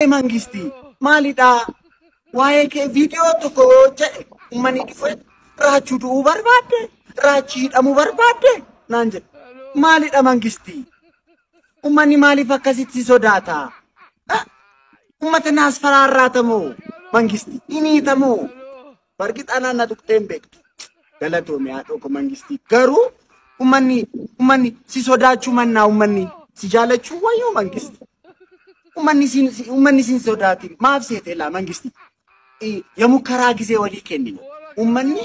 mangisti maalidhaa waa'ee kee viidiyoo tokko yoo jedhe ummani dhufe raachuu du'uu barbaadde raachii hidhamuu barbaadde naan jedhe maalidha mangisti ummanni maaliif akkasitti sodaata ummata naas faraarraatamoo mangisti hiniitamoo Bargit anaan na tuqxee hin beektu. Galatoomi haadhoo koo mangistii. Garuu ummanni ummanni si sodaachuu mannaa ummanni si jaalachuu wayyoo mangisti. Ummanni siin si- ummanni siin sodaatiin maaf seete laa mangisti. I- Yamukkaraa gisee walii kennine. Ummanni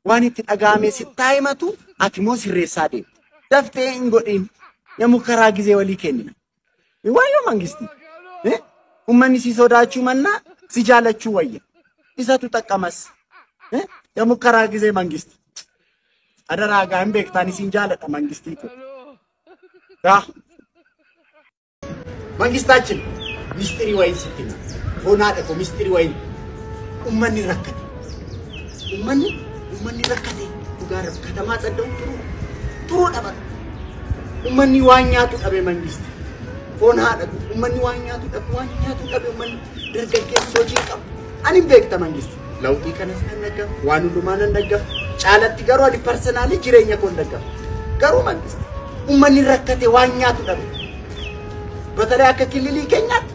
waan itti dhaga'amee si taa'imatu ati immoo sirreessaa deemte. Daftee hin godhin. Yamukkaraa gisee walii kennina. Wayyoo mangisti. Eh? Ummanni si sodaachuu mannaa si jaalachuu wayya. Isatu xaqqamas. Eh? Yamukkaraa gizee mangisti. Adaraa gaa hin beektaan isin jaaladha mangistii koo. Gaa. Mangistaachin mistirii wayiin sitti hima. Boonaadha koo mistirii wayiin. Ummanni rakkate. Ummanni ummanni rakkate dhugaa rabbi katamaa xadda'u turuu turuu dhabata. Ummanni waan nyaatu dhabe mangisti. Foon haa dhabu. Ummanni waan nyaatu dhabu waan nyaatu dhabe ummanni dargaggeessi hojii hin qabu. Ani hin beekta mangisti. Lawxii kanas nan dhaggafa waan hundumaa nan dhaggafa. Caalatti garuu ani parsanaalii jireenya koo hin dhaggafa. Garuu mangisti ummanni rakkate waan nyaatu dhabe. Batalee akka kililii keenyaatti